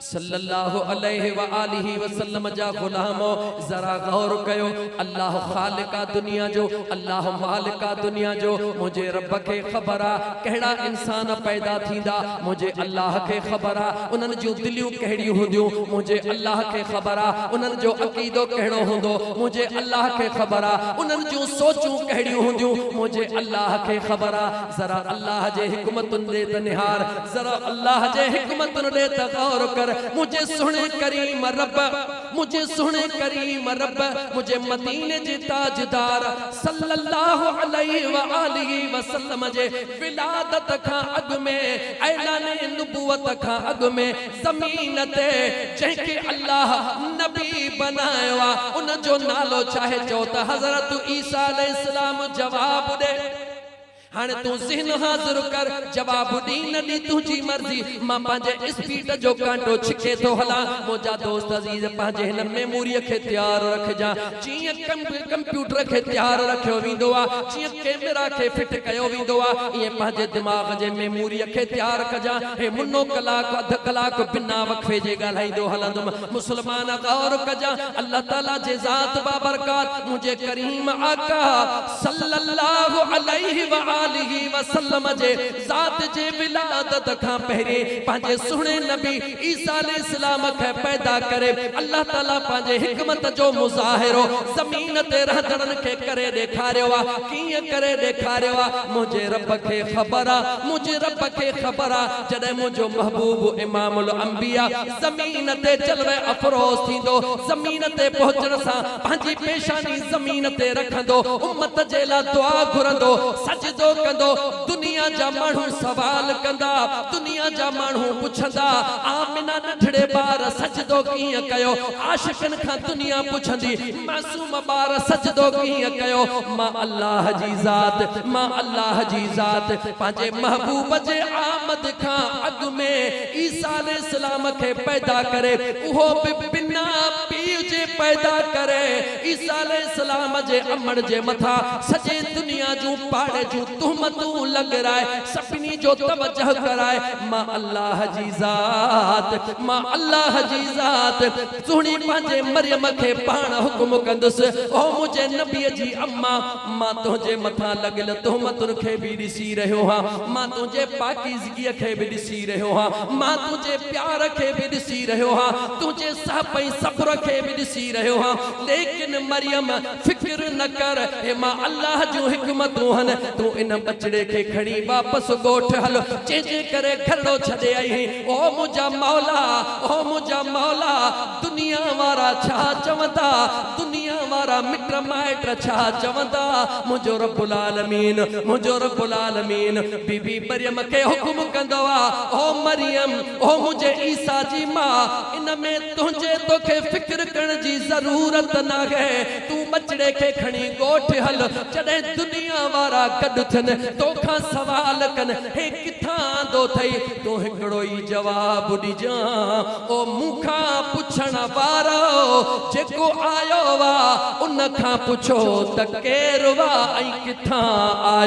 صلّي اللّٰه عليه واٰله وسلّم جا غلامو! ذرا غور ڪيو، الله خالق آ دنيا جو، الله مالڪ آ دنيا جو، منهنجي ربّ کي خبر آ ڪهڙا انسان پيدا ٿيندا، منهنجي الله کي خبر آ انهن جون دليون ڪهڙيون هونديون، منهنجي الله کي خبر آ انهن جو عقيدو ڪهڙو هوندو، منهنجي الله کي خبر آ انهن جون سوچون ڪهڙيون هونديون، منهنجي الله کي خبر آ. ذرا الله جي حڪمتن ڏي ته نهار، ذرا الله جي حڪمتن ڏي ته غور ڪر، منهنجي سهڻي ڪريم رب، منهنجي سهڻي ڪريم رب، منهنجي مديني جي تاجدار صلّي الله عليه واٰله وسلّم جي ولادت کان اڳ ۾، اعلان نبوت کان اڳ ۾، زمين تي جنهن کي الله نبي بنايو آ، ان جو نالو چاهي چئو ته حضرت عيسيٰ عليه السّلام جواب ڏي. هاڻي تون ذهن حاضر ڪر، جواب ڏي نه ڏي تنهنجي مرضي، مان پنهنجي اسپيڊ جو ڪانٽو ڇڪي ٿو هلان، منهنجا دوست عزيز پنهنجي هن ميموريء کي تيار رکجان، جيئن ڪمپيوٽر کي تيار رکيو ويندو آهي، جيئن ڪئميرا کي فٽ ڪيو ويندو آهي، ايئن پنهنجي دماغ جي ميموريء کي تيار ڪجان، هي منو ڪلاڪ اڌ ڪلاڪ بنا وقفي جي ڳالهائيندو هلندم، مسلمان غور ڪجان، الله تعاليٰ جي ذات باڀرڪات منهنجي ڪريم آقا صلّي اللّٰه عليه واٰله وسلّم جي ذات جي ولادت کان پهرين پنهنجي سهڻي نبي عيسيٰ عليه السّلام کي پيدا ڪري الله تعاليٰ پنهنجي حڪمت جو مظاهرو زمين تي رهندڙن کي ڪري ڏيکاريو آ ڪيئن ڪري ڏيکاريو آ منهنجي ربّ کي خبر آ منهنجي ربّ کي خبر آ جڏهن منهنجو محبوب امام الانبياء زمين تي جلوه افروز ٿيندو، زمين تي پهچڻ سان پنهنجي پيشاني زمين تي رکندو، امت جي لا دعا گهرندو، سجدو ڪندو، دنيا جا ماڻهو سوال ڪندا، دنيا جا ماڻهو پڇندا، آمنه ننڍڙي ٻار سجدو ڪيئن ڪيو، عاشقن کان دنيا پڇندي، معصوم ٻار سجدو ڪيئن ڪيو، مان الله جي ذات، مان الله جي ذات، پنهنجي محبوب جي آمد کان اڳ ۾. عيسيٰ عليه السلام کي پيدا ڪري، اهو به بنا پيء جي پيدا ڪري، عيسيٰ عليه السلام جي امڙ جي مٿان سڄي دنيا جون پاڙي جون تهمتون لڳرائي، سڀني جو توجهه ڪرائي، مان الله جي ذات، مان الله جي ذات، سهڻي پنهنجي مريم کي پاڻ حڪم ڪندس، او منهنجي نبيء جي امان، مان تنهنجي مٿان لڳل تهمتن کي به ڏسي رهيو آهيان، مان تنهنجي پاڪيزگيء. ڌرتيء کي به ڏسي رهيو آهيان، مان تنهنجي پيار کي به ڏسي رهيو آهيان، تنهنجي سهپ ۽ صبر کي به ڏسي رهيو آهيان، ليڪن مريم فڪر نه ڪر، هي مان الله جون حڪمتون هن، تون ان ٻچڙي کي کڻي واپس ڳوٺ هل، جنهن جي ڪري گهرڙو ڇڏي آئي آهين، او منهنجا مولا، او منهنجا مولا، دنيا وارا ڇا چوندا، دنيا وارا مٽ مائٽ ڇا چوندا، منهنجو رب العالمين، منهنجو رب العالمين. بي بي مريم کي حڪم ڪندو آ، او مريم! او منهنجي عيسيٰ جي ماء! ان ۾ تنهنجي توکي فڪر ڪرڻ جي ضرورت ناهي. تون ٻچڙي کي کڻي ڳوٺ هل. جڏهن دنيا وارا گڏ ٿين، توکان سوال ڪن، هي ڪٿان آندو اٿئي؟ تون هڪڙو ئي جواب ڏجان، او مون کان پڇڻ وارؤ! جيڪو آيو آ، ان کان پڇو ته ڪير هئا ۽ ڪٿان آيو؟